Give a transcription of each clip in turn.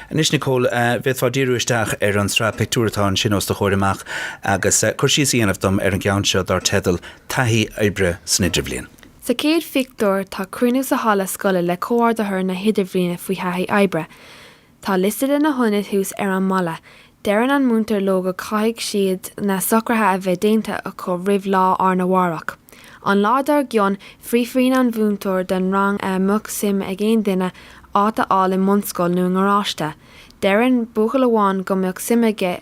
Anois, Nicole, an bhféadfá díriú isteach ar an tsraith pictiúr atá ansin os do chomhair amach agus cur síos a dhéanamh dom ar an gceann seo dar teideal 'Taithí Oibre san Idirbhliain'? Sa chéad phictiúr tá cruinniú sa halla scoile le comhordaitheoir na hidirbhliana faoi thaithí oibre. Tá liosta de na hionaid thuas ar an mballa, Deireann an múintear leo go gcaithfidh siad na socraithe a bheith déanta acu roimh lá arna mhárach. An lá dár gcionn, fiafraíonn an múinteoir den rang an mbeadh suim ag aon duine áit a fháil i mbunscoil nó i ngaráiste. Deireann buachaill amháin go mbeadh suim aige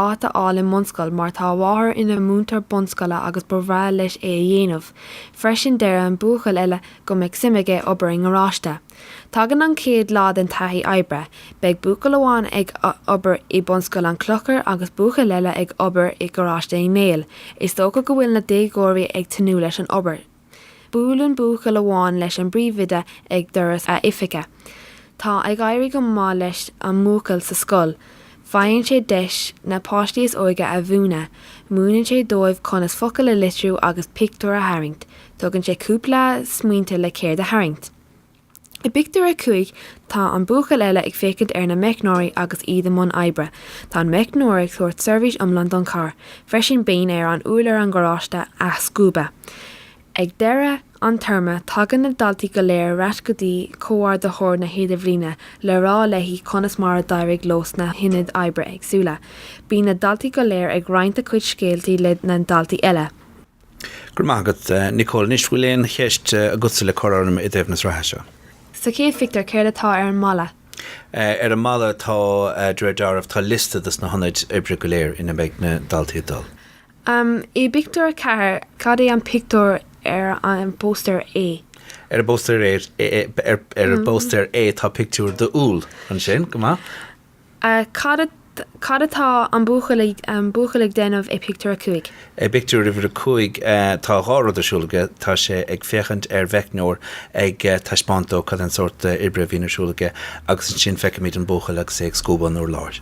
áit a fháil i mbunscoil mar tá a mháthair ina múinteoir bunscoile agus ba bhreá leis é a dhéanamh. Freisin deireann buachaill eile go mbeadh suim aige obair i ngaráiste. Tagann an chéad lá den taithí oibre, beidh buachaill amháin ag obair i Bunscoil an Chlochair agus buachaill eile ag obair i nGaráiste Uí Néill. Is dócha go bhfuil na déagóirí ag tnúth leis an obair. Buaileann buachaill amháin leis an bpríomhoide ag doras a oifige. Tá ag éirí go maith leis an mbuachaill sa scoil. Faigheann sé deis na páistí is óige a mhúineadh, múineann sé dóibh conas focail a litriú agus pictiúir a tharraingt, tugann sé cúpla smaointe le céard a tharraingt. I bpictiúr a cúig tá an buachaill eile ag féachaint ar na meicneoirí agus iad i mbun oibre, tá an meicneoir ag tabhairt seirbhís iomlán don charr, freisin bíonn air urlár an gharáiste a scuabadh. Ag deireadh an téarma, tagann na daltaí go léir ar ais go dtí Comhordaitheoir na hIdirbhliana le rá léi conas mar a d'éirigh leo sna hionaid oibre éagsúla. Bíonn na daltaí go léir ag roinnt a cuid scéaltaí le na daltaí eile. Go raibh maith agat, Nicole. Anois, bhfuil aon cheist agatsa le cur orm i dtaobh na sraithe seo? Sa chéad phictiúr, céard atá ar an mballa? Ar an mballa, tá, de réir deáraimh, tá liosta dos na hionaid oibre go léir ina mbeidh na daltaí ag dul. Um I bpictiúr a ceathair, cad é an pictiúr ar an bpóstaer A? Ar an bpóstaer ar ar an bpóstaer A tá pictiúr d'úll. Ansin, go maith. A cad cad atá an buachaill ag an buachaill ag déanamh i bpictiúr a cúig? I bpictiúr uimhir a cúig tá dhá rud ar siúl aige, tá sé ag féachaint ar mheicneoir ag taispeáint dó cad é an sórt oibre a bhíonn ar siúl aige agus ansin feicimid an buachaill agus é ag scuabadh an urláir.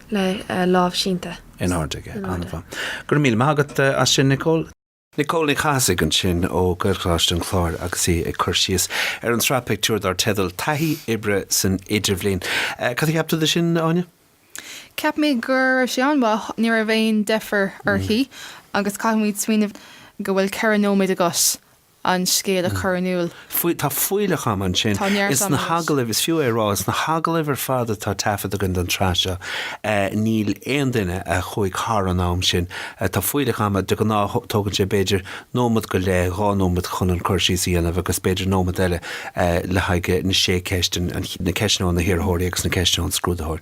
le lámh sínte. in airde aige. An-mhaith. Go raibh míle maith agat as sin, Nicole. Nicole Ní Chathasaigh ansin ó Ghaelcholáiste an Chláir agus í ag cur síos ar an sraith pictiúr dar teideal 'Taithí Oibre san Idirbhliain'. Cad a cheap tú de sin, Áine? Cheap mé go raibh sé an-mhaith, ní raibh aon deifir uirthi agus caithfimid smaoineamh go bhfuil ceithre nóiméad agat an scéal a chur in iúl. Tá fuílleach ama ansin. Is fiú é a rá arís, na hagallaimh ar fad atá taifeadta againn don tsraith seo, níl aon duine a chuaigh thar an am sin. Tá fuílleach ama, de ghnáth tógann sé b'fhéidir nóiméad go leith, dhá nóiméad chun an cur síos a dhéanamh agus b'fhéidir nóiméad eile le haghaidh na sé cheist, na ceisteanna ó na hiarrthóirí agus na ceisteanna ón scrúdaitheoir.